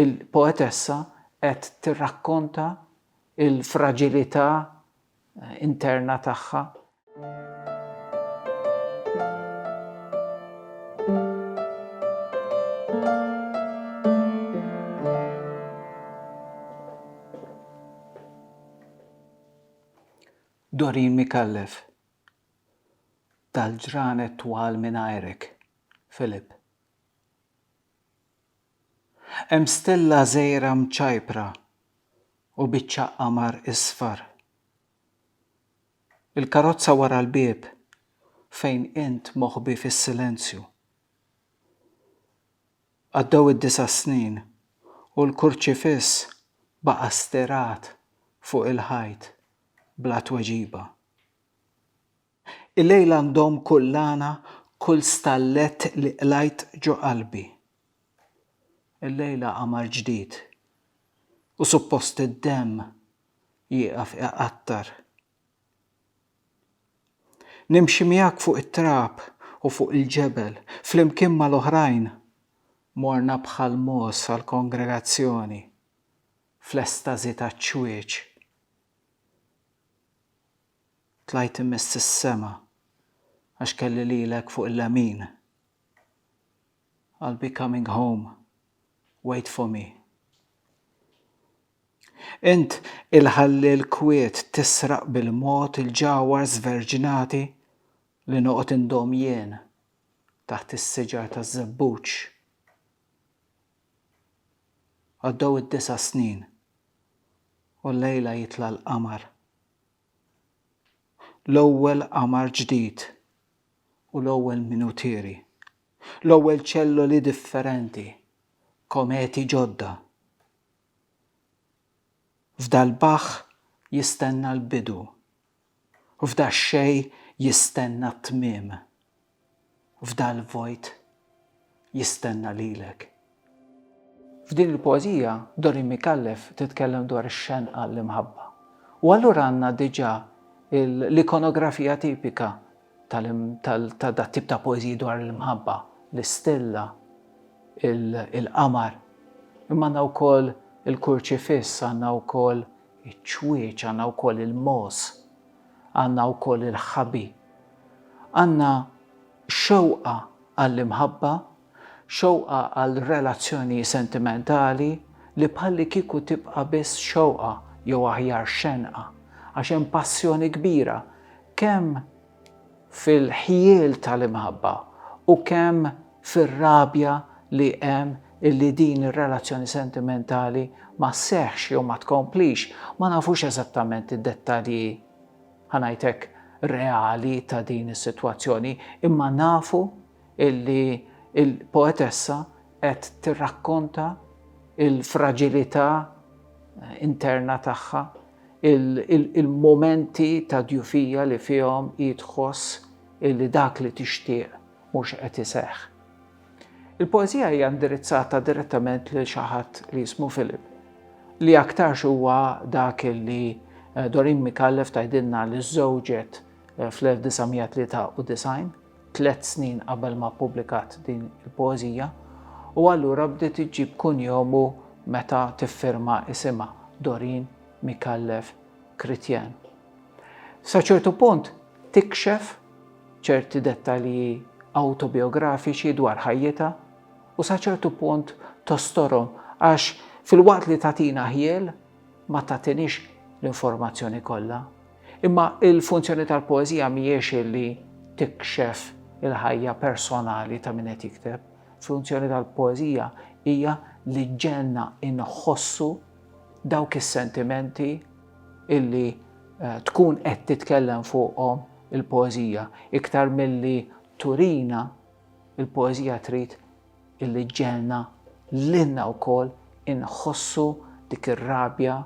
Il-poetessa qed tirrakkonta l-fraġilità interna tagħha. Doreen Micallef, Dal-ġranet twal mingħajrek, Philip. Hemm stella żgħira mċajpra u biċċa qamar isfar. Il-karozza wara l-bieb fejn int moħbi fis-silenzju. Għaddew id-disa' snin u l-kurċifiss baqa' stirat fuq il-ħajt bla tweġiba. Illejl għandhom kull lana, kull stallett li qlajt ġo qalbi. Illejla qamar ġdid u suppost id-demm jieqaf iqattar. Nimxi miegħek fuq it-trab u fuq il-ġebel, flimkien mal-oħrajn morna bħal mogħoż għall-kongregazzjoni, fl-estażi taċ-ċwieċ. Tlajt imiss is-sema għax kelli lilek fuq il-lemin I'll be coming home, wait for me Int il-ħalliel kwiet tisraq bil-mod il-ġawhar żverġnati li noqgħod indomm jien taħt is-siġar taż-żebbuġ Għaddew id-disa' snin u llejla jitla' l-qamar. L-ewwel qamar ġdid u l-ewwel minutieri, l-ewwel ċelloli differenti, kometi ġodda. F'dal-baħħ jistenna l-bidu, f'dax-xejn jistenna t-tmiem. f'dal-vojt jistenna lilek. F'din il-poeżija, Dorin Micallef titkellem dwar ix-xenqa għall-imħabba. U allura għandna diġà l-ikonografija tipika ta' dat-tip ta' poeżiji dwar l-imħabba, l-istilla, il-qamar. Imma għandna wkoll il-kurċifiss, għandna wkoll iċ-ċwieċ, għandna wkoll il-mogħoż. Għandna wkoll il-ħħabi. Għandna xewqa għall-imħabba, xewqa għal relazzjoni sentimentali li bħallikieku tibqa' biss xewqa jew aħjar xenqa, għax hemm passjoni kbira kemm fil-ħjiel tal-imħabba u kemm fir-rabja li hemm illi din ir-relazzjoni sentimentali ma sseħħx jew ma tkomplix, ma nafux eżattament id-dettalji, ħa ngħid hekk, reali ta' din is-sitwazzjoni, imma nafu illi l-poetessa qed tirrakkonta l-fraġilità interna tagħha, il-mumenti ta' djufija li fihom hi tħoss illi dak li tixtieq mhux qed iseħħ. Il-poeżija hija indirizzata direttament lil xi ħadd li jismu Philip, li aktarx huwa dak illi Doreen Micallef tgħidilna li żżewġet fl-1993, tliet snin qabel ma ppubblikat din il-poeżija, u allura bdiet iġġib kunjomu meta tiffirma isimha, Doreen Micallef Chrétien. Sa ċertu punt tikxef ċerti dettalji awtobijografiċi dwar ħajjitha u sa ċertu punt tostorhom għax filwaqt li tagħtina ħjiel ma tagħtinix l-informazzjoni kollha. Imma l-funzjoni tal-poeżija mhijiex li tikxef il-ħajja personali ta' min qed jikteb. Funzjoni tal-poeżija hija li ġġegħelna inħossu dawk is-sentimenti illi tkun qed titkellem fuqhom il-poeżija. Iktar milli turina, il-poeżija trid illi ġġegħelna lilna wkoll inħossu dik ir-rabja,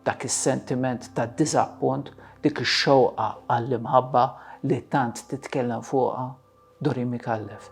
dak is-sentiment ta' diżappunt, dik ix-xewqa għall-imħabba li tant titkellem fuqha Doreen Micallef.